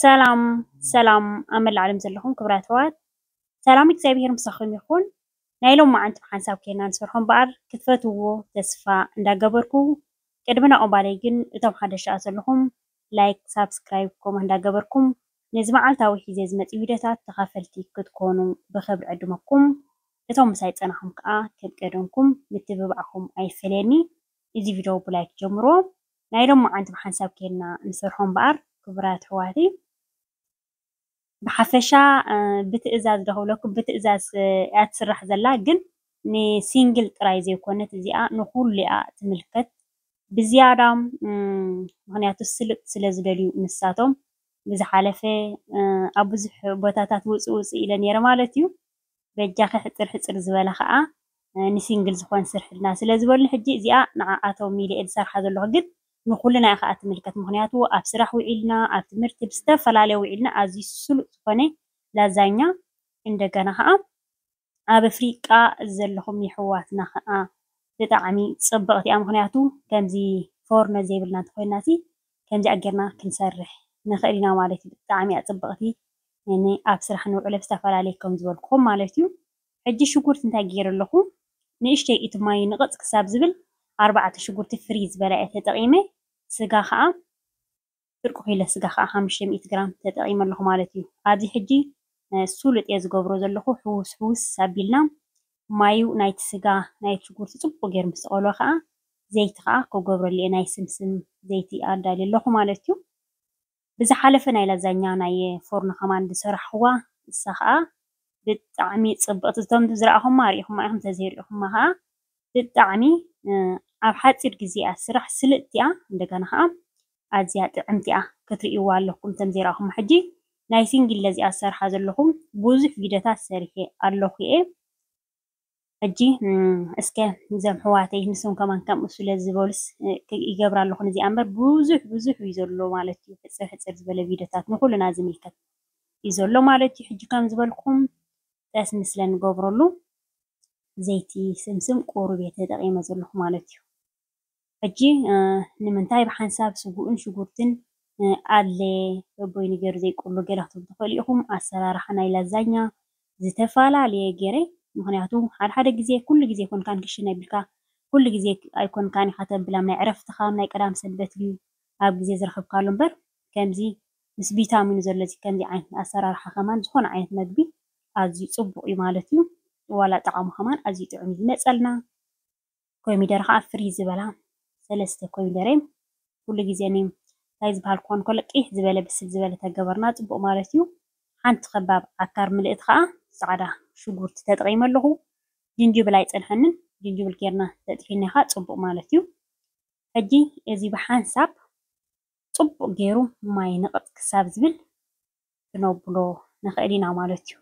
ሰላም ሰላም ኣብ መላእ ዓለም ዘለኹም ክብራት ኣሕዋት ሰላም እግዚኣብሄር ምሳኹም ይኹን። ናይ ሎማዓንቲ ብሓንሳብ ኬና ንሰርሖ እምበኣር ክትፈትውዎ ተስፋ እንዳገበርኩ ቅድሚ ናብኡ ምባለይ ግን እቶም ሓደሻኣ ዘለኹም ላይክ ሳብስክራይብ ኮመንት እንዳገበርኩም ነዚ ማዓልታዊ ሒዜ ዝመጽእ ቪድዮታት ተኻፈልቲ ክትኮኑ ብኽብሪ ዕድመኩም እቶም ምሳይ ዝጸናኹም ከኣ ከም ቀደምኩም ምትብባዕኩም ኣይፈለየኒ እዚ ቪድዮ ብላይክ ጀምርዎ ናይ ሎማዓንቲ ብሓንሳብ ኬና ንሰርሖ እምበኣር ክቡራት ኣሕዋተይ ብሓፈሻ ብትእዛዝ ዶ ክብለኩም ብትእዛዝ እያ ትስራሕ ዘላ ግን ንሲንግል ጥራይ ዘይኮነት እዚኣ ንኹሉ እያ ትምልከት ብዝያዳ ምኽንያቱ ስልጥ ስለ ዝደልዩ ንሳቶም ብዝሓለፈ ኣብ ብዙሕ ቦታታት ውጽእ ውጽእ ኢለ ነይረ ማለት እዩ በጃኺ ሕጽር ሕጽር ዝበላ ከኣ ንሲንግል ዝኾን ስርሕልና ስለ ዝበሉኒ ሕጂ እዚኣ ንዓኣቶም ኢለ'የ ዝሰርሓ ዘለኹ ግን ንኹልና እያ ከኣ ትምልከት ምኽንያቱ ኣብ ስራሕ ውዒልና ኣብ ትምህርቲ ብ ዝተፈላለየ ውዒልና ኣዝዩ ስሉጥ ዝኾነ ላዛኛ እንደገና ከኣ ኣብ ኣፍሪቃ ዘለኹም የሕዋትና ከኣ ብጣዕሚ ጽብቕቲ እያ ምኽንያቱ ከምዚ ፎርኖ ዘይብልና እንተኾይንና'ሲ ከምዚኣ ጌርና ክንሰርሕ ንኽእል ኢና ማለት እዩ። ብጣዕሚ እያ ጽብቅቲ ን ኣብ ስራሕ ንውዕሎ ብዝተፈላለየ ከም ዝበልኩኹም ማለት እዩ። ሕጂ ሽጉርቲ እንታይ ጌረ ኣለኹ ንእሽተይ እቲ ማዩ ንቕጽ ክሳብ ዝብል ኣርባዕተ ሽጉርቲ ፍርይ ዝበላ እየ ተጠቂመ ስጋ ከኣ ፍርቂ ኪሎ ስጋ ከኣ ሓሙሽተ ሚእቲ ግራም ተጠቂመ ኣለኹ ማለት እዩ። ኣብዚ ሕጂ ሱሉጥ እየ ዝገብሮ ዘለኹ ሕዉስ ሕዉስ ኣቢልና ማዩ ናይቲ ስጋ ናይቲ ሽጉርቲ ጽቡቕ ጌሩ ምስ ተቐልወ ከኣ ዘይቲ ከኣ ክገብረሉ እየ ናይ ስምስም ዘይቲ ኣዳልየ ኣለኹ ማለት እዩ። ብዝሓለፈ ናይ ላዛኛ ናይ ፎርኖ ከማን ዝሰራሕክዋ ንሳ ከኣ ብጣዕሚ ጽብቕቲ እቶም ዝረኣኹማ ርኢኹማ ኢኹም እንተዘይ ርኢኹማ ከኣ ብጣዕሚ ኣብ ሓጺር ግዜ እያ ትስራሕ ስልጥቲ እያ እንደገና ከኣ ኣዝያ ጥዕምቲ እያ ክትርእይዋ ኣለኩም ተም ዘይረኣኩማ ሕጂ ናይ ሲንግል ለዚኣ ዝሰርሓ ዘለኩ ቡዙሕ ቪደታት ሰሪሔ ኣለኩ እየ ሕጂ እስከ ዘምሕዋተይ ንስም ከማን ከምኡ ስለ ዝበሉስ ይገብራ ኣለኩ ንዚኣ እምበር ቡዙሕ ቡዙሕ እዩ ዘሎ ማለት እዩ ሕጽር ሕጽር ዝበለ ቪደታት ንኩልና ዝምልከት እዩ ዘሎ ማለት እዩ ሕጂ ከም ዝበልኩም ጠስሚ ስለ ንገብረሉ ዘይቲ ስምስም ቁሩብ እየ ተጠቂመ ዘለኩ ማለት እዩ ሕጂ ንምንታይ ብ ሓንሳብ ስጉእን ሽጉርትን ኣለ በቦይ ንገር ዘይቁሎ ገለ ክትብሉ ትክእሉ ኢኩም ኣሰራርሓ ናይ ላዛኛ ዝተፋላለየ ገረ ምክንያቱ ሓደ ሓደ ግዜ ኩሉ ግዜ ኣይኮንካን ክሽነ ኣብልካ ኩሉ ግዜ ኣይኮንካን ኢካ ተብል ኣብ ናይ ዕረፍትካ ናይ ቀዳም ሰንበት ድዩ ኣብ ግዜ ዝረከብካሉ እምበር ከምዚ ምስ ቢታሚኑ ዘሎዚ ከምዚ ዓይነት ኣሰራርሓ ከማን ዝኮነ ዓይነት መግቢ ኣዝዩ ጽቡቅ እዩ ማለት እዩ ዋላ ጣዕሙ ከማን ኣዝዩ ጥዑም እዩ ዝመጸልና። ኮሚደረ ከኣ ፍርይ ዝበላ ሰለስተ ኮሚደረ እየን ኩሉ ግዜ እኔ ታይ ዝባሃል ክኮን ከሎ ቂህ ዝበለ ብስል ዝበለ ተገበርና ፅቡቅ ማለት እዩ ሓንቲ ከባብ ዓካር ምልእቲ ከኣ ፃዕዳ ሽጉርቲ ተጠቂመ ኣለኩ ጅንጅብል ኣይፀንሐንን ጅንጅብል ገይርና ተጥሒንያ ከኣ ፅቡቅ ማለት እዩ ሕጂ እዚ ብሓንሳብ ፅቡቅ ገይሩ ማይ ንቅፅ ክሳብ ዝብል ክነብሎ ንክእል ኢና ማለት እዩ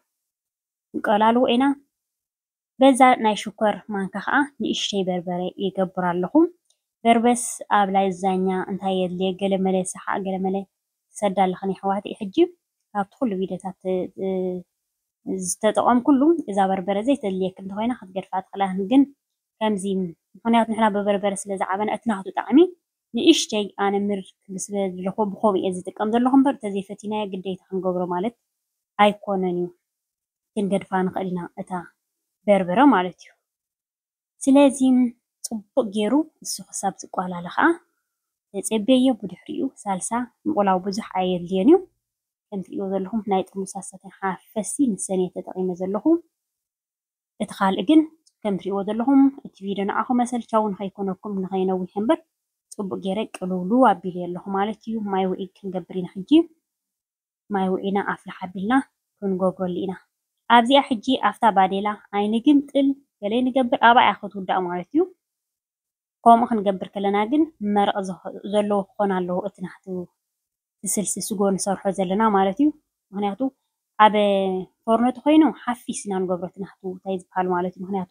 ንቀላልዎ ኢና በዛ ናይ ሽኮር ማንካ ከኣ ንእሽተይ በርበረ ይገብር ኣለኹ። በርበስ ኣብ ላዛኛ እንታይ የድልየ ገለ መለ ሰሓቅ ገለ መለ ክሰዳ ኣለኽን የሕዋተይ ሕጂ ካብቲ ኩሉ ቪድዮታት ዝተጠቀምኩሉ እዛ በርበረ ዘይተድልየኪ እንተኾይና ክትገድፋ ትኽእላ ኢኽን ግን ከምዚ ምኽንያቱ ንሕና ብበርበረ ስለ ዝዓበና እቲ ናቱ ጣዕሚ ንእሽተይ ኣነ ምርር ክብል ስለ ዝደለኹ ብኸምኡ እየ ዝጥቀም ዘለኹ እምበር እንተዘይፈቲናዮ ግዴታ ክንገብሮ ማለት ኣይኮነን እዩ። ክንገድፋ ንኽእል ኢና እታ በርበረ ማለት እዩ ስለዚ ጽቡቅ ጌሩ ንሱ ክሳብ ዝቆላለ ከኣ ተጸብየዮ ብድሕሪኡ ሳልሳ ምቁላው ብዙሕ ኣየድልዮን እዩ ከም ትሪእዎ ዘለኹም ናይ ጥርሙስ ኣሰተ ሓፈሲ ንሰን እየ ተጠቂመ ዘለኹ እቲ ካልእ ግን ከም ትሪእዎ ዘለኹም እቲ ቪድዮ ንዓኹም ኣሰልቻዊ ንኸይኮነኩም ንኸይነዊሕ እምበር ጽቡቅ ጌረ ቅልውልው ኣቢለዮ ኣለኹ ማለት እዩ ማይ ውዒግ ክንገብር ኢና ሕጂ ማይ ውዒና ኣፍልሕ ኣቢልና ክንጎግረሉ ኢና። ኣብዚኣ ሕጂ ኣብታ ባዴላ ኣይንግምጥል ገለ ኣይንገብር ኣብኣ እያ ክትውዳእ ማለት እዩ። ከምኡ ክንገብር ከለና ግን መረቕ ዘለዎ ክኾን ኣለዎ እቲ ናህቱ እቲ ስልሲ ስጎ ንሰርሖ ዘለና ማለት እዩ። ምኽንያቱ ኣብ ፎርኖ ተኾይኑ ሓፊስ ኢና ንገብሮ እቲ ናህቱ እንታይ ዝበሃል ማለት እዩ። ምኽንያቱ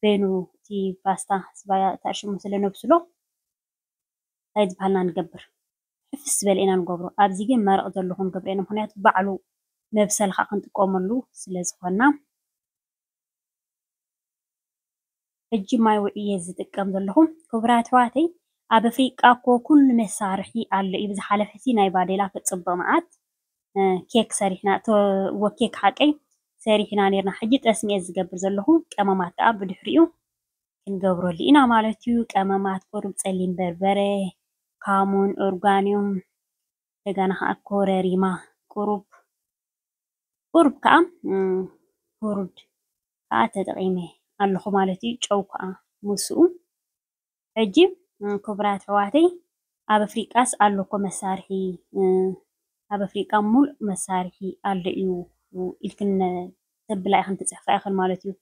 በይኑ እቲ ፓስታ ስባያ ተኣሽሙ ስለ ነብስሎ። ታይ ዝበሃልና ንገብር ሕፍስ ዝበለ ኢና ንገብሮ ኣብዚ ግን መረቅ ዘሎ ክንገብሮ ኢና ምክንያቱ ባዕሉ መብሰሊ ካኣ ክንጥቀመሉ ስለ ዝኮና ሕጂ ማይ ውዒ እየ ዝጥቀም ዘለኩ ክቡራት ኣሕዋተይ ኣብ ኣፍሪቃ እኮ ኩሉ መሳርሒ ኣሎ እዩ ብዝሓለፈ ሲ ናይ ባዴላ ክጽብቅ መዓት ኬክ ሰሪሕና እወ ኬክ ሓቀይ ሰሪሕና ኔርና ሕጂ ጠስሚ እየ ዝገብር ዘለኩ ቀመማት ካኣ ብድሕሪኡ ክንገብረሉ ኢና ማለት እዩ። ቀመማት ቁሩብ ጸሊም በርበረ፣ ካሙን፣ ኦርጋንዮ፣ እንደገና ከኣ ኮረሪማ ቁሩብ ቁሩብ ከኣ ሁሩድ ከኣ ተጠቂመ ኣለኹ ማለት እዩ። ጨው ከኣ ምስኡ ሕጂ ክቡራት ኣሕዋተይ ኣብ ኣፍሪቃስ ኣሎ እኮ መሳርሒ ኣብ ኣፍሪቃ ሙሉእ መሳርሒ ኣሎ እዩ ኢልክን ተብላ ኢኽን ትጽሕፋ ኢኽን ማለት እዩ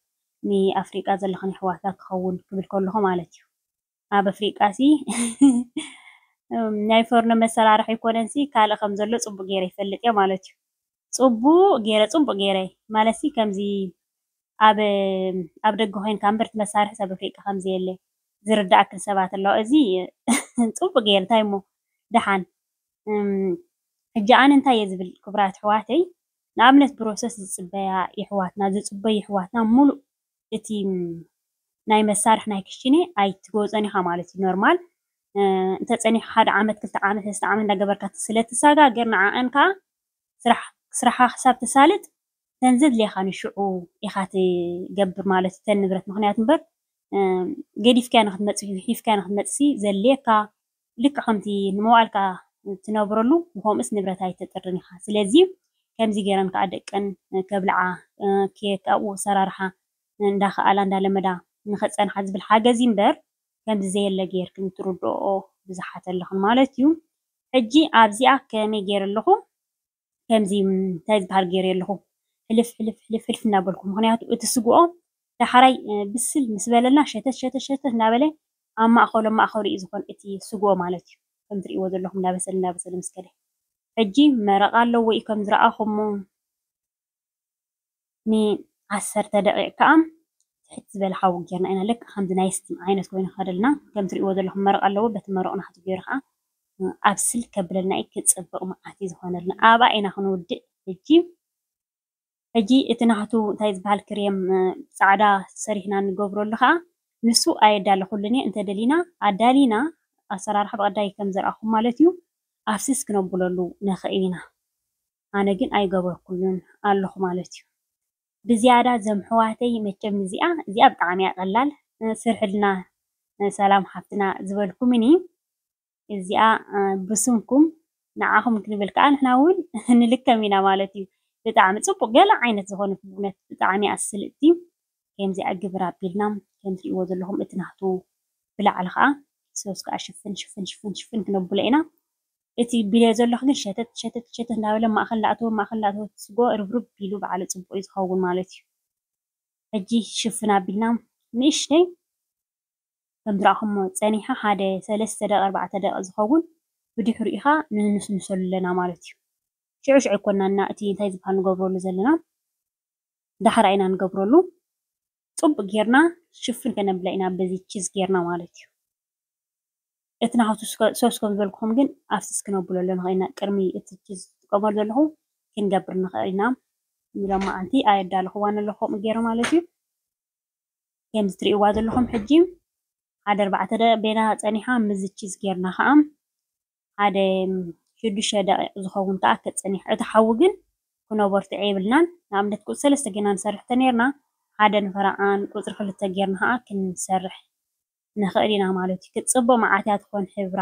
ንኣፍሪቃ ዘለኽን የሕዋትና ክኸውን ክብል ከለኹ ማለት እዩ ኣብ ኣፍሪቃሲ ናይ ፎርኖ መሰራርሒ ኣይኮነንሲ ካልእ ከም ዘሎ ጽቡቕ ገይረ ይፈልጥ እየ ማለት እዩ ጽቡቅ ጌረ ጽቡቅ ጌረ ማለትሲ ከምዚ ኣብ ኣብ ደገ ኮይንካ እምበር እቲ መሳርሒ ሰብ ኣፍሪቃ ከም ዘየለ ዝርዳኣክል ሰባት ኣለዋ እዚ ጽቡቅ ጌረ እንታይ እሞ ደሓን እም ሕጂ ኣነ እንታይ እየ ዝብል ክቡራት ኣሕዋተይ ንኣብነት ብሮሰስ ዝጽበያ የሕዋትና ዝጽበዩ የሕዋትና ሙሉእ እቲ ናይ መሳርሒ ናይ ክሽኔ ኣይትገዝኦን ኢካ ማለት እዩ ኖርማል እንተ ጸኒሕካ ሓደ ዓመት ክልተ ዓመት ሰለስተ ዓመት እንዳገበርካ ስለ ትሰጋገር ንዓኣን ከኣ ስራሕካ ክሳብ ተሳልጥ እተን ዘድልያካ ንሽዑ ኢካ ትገብር ማለት እዩ እተን ንብረት ምክንያቱ እምበር ገዲፍካዮ ንክትመጽእ ወይ ሒፍካዮ ንክትመጽእ ሲ ዘድልየካ ልክዕ ከምቲ ንመዋእልካ ትነብረሉ ንከምኡስ ንብረት ኣይተጥርን ኢካ ስለዚ ከምዚ ገይረን ከኣ ደቀን ከብልዓ ኬክ ኣብኡ ኣሰራርሓ እንዳከኣላ እንዳለመዳ ንክጸንሓ ዝብል ሓገዝ እዩ እምበር ከምዚ ዘየለ ገይርክን ትርድኦኦ ብዙሓት ኣለክን ማለት እዩ ሕጂ ኣብዚኣ ከመይ ጌረ ኣለኹ ከምዚ እንታይ ዝብሃል ጌረ ኣለኹ ሕልፍ ሕልፍ ሕልፍ ሕልፍ እናበልኩ ምኽንያቱ እቲ ስግኦ ዳሕራይ ብስል ምስ በለልና ሸተት ሸተት ሸተት እናበለ ኣብ ማእኸሉ ኣብ ማእኸሉ እዩ ዝኾን እቲ ስግኦ ማለት እዩ ከም ትሪእዎ ዘለኹም እናበሰለ እናበሰለ ምስ ከደ ሕጂ መረቓ ኣለዎ እዩ ከም ዝረኣኹሞ ንዓሰርተ ደቒቕ ከኣ ትሕት ዝበለ ሓዊ ጌርና ኢና ልክዕ ከምዚ ናይ ስቲም ዓይነት ኮይኑ ክኸደልና ከም ትርእይዎ ዘለኹም መረቕ ኣለዎ በቲ መረቑ ናሕቱ ጌሩ ከኣ ኣብስል ከብለልና እዩ ክጽብቕ መዓት እዩ ዝኾነልና ኣብኣ ኢና ክንውድእ ሕጂ ሕጂ እቲ ናህቱ እንታይ ዝበሃል ክሬም ጻዕዳ ሰሪሕና ንገብረሉ ከኣ ንሱ ኣየዳለኹልን እየ እንተደሊና ኣዳሊና ኣሰራርሓ ብቐዳይ ከም ዘርኣኹም ማለት እዩ ኣፍስስ ክነብለሉ ንኽእል ኢና ኣነ ግን ኣይገበርኩሉን ኣለኹ ማለት እዩ ብዝያዳ ዘምሕዋተይ መቸም እዚኣ እዚኣ ብጣዕሚ እያ ቀላል ስርሕልና ሰላም ሓፍትና ዝበልኩምኒ እዚኣ ብስምኩም ንዓኹም ክንብል ከዓ ንሕና እውን ንልከም ኢና ማለት እዩ ብጣዕሚ ፅቡቅ ገለ ዓይነት ዝኾነ ፍልነት ብጣዕሚ እያ ስልጥቲ ከምዚኣ ግብር ኣቢልና ከምትሪእዎ ዘለኹም እቲ ናቱ ብላዕሊ ከዓ ሶስ ከዓ ሽፍን ሽፍን ሽፍን ሽፍን ክነብሎ ኢና እቲ እብልዮ ዘለኹ ግን ሸተት ሸተት ሸተት እንዳበለ ማእኸል ላእተዎ ማእኸል ላእተዎ እቲ ስግኦ እርብርብ ቢሉ ባዕሉ ፅቡቅ እዩ ዝኸውን ማለት እዩ ሕጂ ሽፍን ኣቢልና ንእሽተይ ከምቲ ራእኹሞ ፀኒሓ ሓደ ሰለስተ ደቂቅ ኣርባዕተ ደቂቅ ዝኸውን ብድሕሪኡ ኢኻ ንንስንሰሉ ኣለና ማለት እዩ ሽዑ ሽዑ ኣይኮናን እና እቲ እንታይ ዝብሃል ንገብረሉ ዘለና ዳሕራይ ኢና ንገብረሉ ጽቡቅ ጌርና ሽፍን ከነብላ ኢና በዚ ቺዝ ጌርና ማለት እዩ። እቲ ናሃቱ ሶስ ከም ዝበልኩኹም ግን ኣፍስስ ክነብለሉ ንኽእል ኢና ቅድሚ እቲ ቺዝ ዝጥቀመሉ ዘለኹ ክንገብር ንኽእል ኢና። ንሎማዓንቲ ኣየዳለኹዋን ኣለኹ ከምኡ ጌረ ማለት እዩ። ከምዚ ትርእይዋ ዘለኹም ሕጂ ሓደ ኣርባዕተ ደቂቅ ቤላ ጸኒሓ ምስዚ ቺዝ ጌርና ከኣ ሓደ ሽዱሽተ ደቂቅ ዝከውን ካኣ ተጸኒሑ እቲ ሓዊ ግን ክኖበርቶ ኣይብልናን ንኣብነት ቁጽሪ ሰለስተ ጌርና ንሰርሕ ተኔርና ሓደ ንፈረቃን ቁጽሪ ክልተ ጌርና ካኣ ክንሰርሕ ንክእል ኢና ማለት እዩ ክትጽብቅ ማዓት እያ ትኮን ሕብራ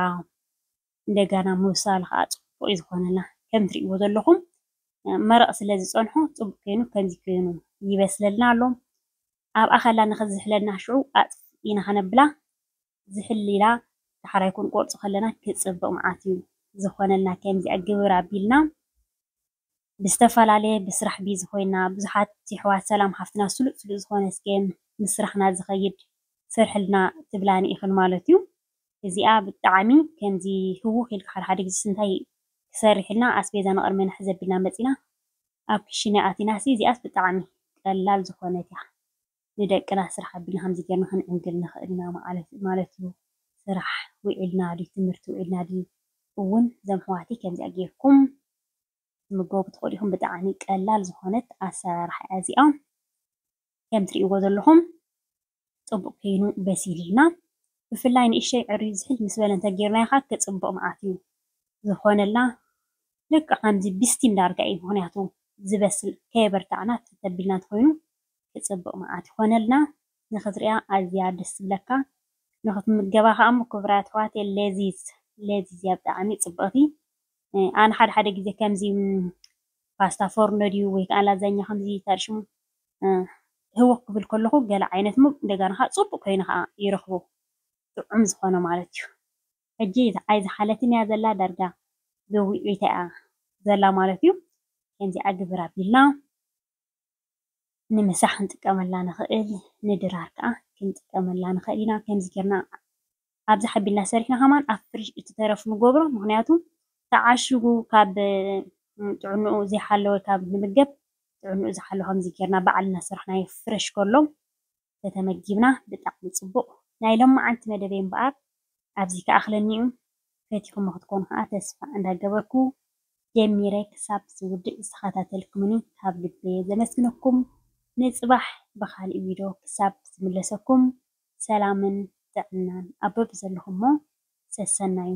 እንደጋና ምብሳሉ ካኣ ጽቡቅ እዩ ዝኮነልና ከም ትሪእዎ ዘለኩም መረቅ ስለ ዝጸንሖ ጽቡቅ ከይኑ ከምዚ ከይኑ ይበስለልና ኣሎ ኣብኣ ከላ ንክዝሕለልና ሽዑ ኣጽፍ ኢና ከነብላ ዝሕል ኢላ ዳሕራይ ክንቆርጾ ከለና ክጽብቅ መዓት እዩ ዝኮነልና ከምዚኣ ግብር ኣቢልና ብዝተፈላለየ ብስራሕ ቢዚ ኮይና ብዙሓት የሕዋት ሰላም ሓፍትና ስሉጥ ስሉጥ ዝኮነት ገም ምስ ስራሕና ዝከይድ ስርሕልና ትብላኒ ኢክን ማለት እዩ እዚኣ ብጣዓሚ ከምዚ ህውክ ኢልካ ሓደ ሓደ ግዜስ እንታይ ክሰሪሕልና ኣስቤዛ ንቅርሜና ሕዝ ኣቢልና መጺና ኣብ ክሽነ ኣቲናሲ እዚኣስ ብጣዓሚ ቀላል ዝኮነት እያ ንደቅና ስራሕ ኣቢልና ከምዚ ጌርና ክንዕንግል ንኽእል ኢና ማዓለት ማለት እዩ ስራሕ ዊዒልና ድዩ ትምህርቲ ዊዒልና ድዩ እዉን እዞም ኣሕዋተይ ከምዚኣ ጌርኩም ክትምገቡ ትኽእሉ ኢኹም ብጣዕሚ ቀላል ዝኾነት ኣሰራርሓ እያ እዚኣ ከም ትሪእዎ ዘለኹም ጽቡቅ ከይኑ በሲሉልና ብፍላይ ንእሽተይ ዕርዩ ዝሕል ምስ በለ እንተ ጌርናዮ ክኣ ክጽብቅ ማዓት እዩ ዝኾነልና ልክዕ ከምዚ ቢስቲን ዳርጋ እዩ ምኽንያቱ ዝበስል ከየበርታዕና ትሕት ኣቢልና እንተኾይኑ ክጽብቅ መዓት ይኾነልና ንኽትሪኣ ኣዝያ ደስ ትብለካ ንኽትምገባ ከኣ እሞ ክብራ ኣሕዋተይ ለዚዝ ለዚዝ እያ ብጣዕሚ ጽብቅቲ ኣነ ሓደ ሓደ ግዜ ከምዚ ፓስታ ፎርኖ ድዩ ወይ ከኣ ላዛኛ ከምዚ እንታይ ሽሙ ህውኽ ክብል ከለኹ ገለ ዓይነት እሞ እንደገና ከኣ ጽቡቅ ኮይኑ ከኣ ይረኽቦ ጥዑም ዝኾነ ማለት እዩ ሕጂ ኣይዝሓለትን እያ ዘላ ዳርጋ ዘዊዒታ እያ ዘላ ማለት እዩ ከምዚኣ ግብር ኣቢልና ንምሳ ክንጥቀመላ ንኽእል ንድራር ከኣ ክንጥቀመላ ንኽእል ኢና ከምዚ ጌርና ኣብዚ ሓቢልና ሰሪሕና ከማን ኣብ ፍሪጅ እቲ ተረፍ ንገብሮ ምክንያቱ ተዓሽጉ ካብ ጥዕንኡ ዘይሓለወ ካብ ንምገብ ጥዕንኡ ዝሓለወ ከምዚ ጌርና ባዕልና ሰራሕናዮ ፍረሽ ከሎ ተተመጊብና ብጣዕሚ ጽቡቅ ናይ ሎማዓንቲ መደበይ እምበኣር ኣብዚ ክኣኽለኒ'ዩ ፈቲኹሞ ክትኮኑ ከኣ ተስፋ እንዳገበርኩ ጀሚረ ክሳብ ዝውድእ ዝተኸታተልክሙኒ ካብ ልቢ'የ ዘመስግነኩም ንጽባሕ ብኻልእ ቪዶ ክሳብ ዝምለሰኩም ሰላምን ጥዕናን ኣብ በብዘለኹሞ ሰሰናዩ።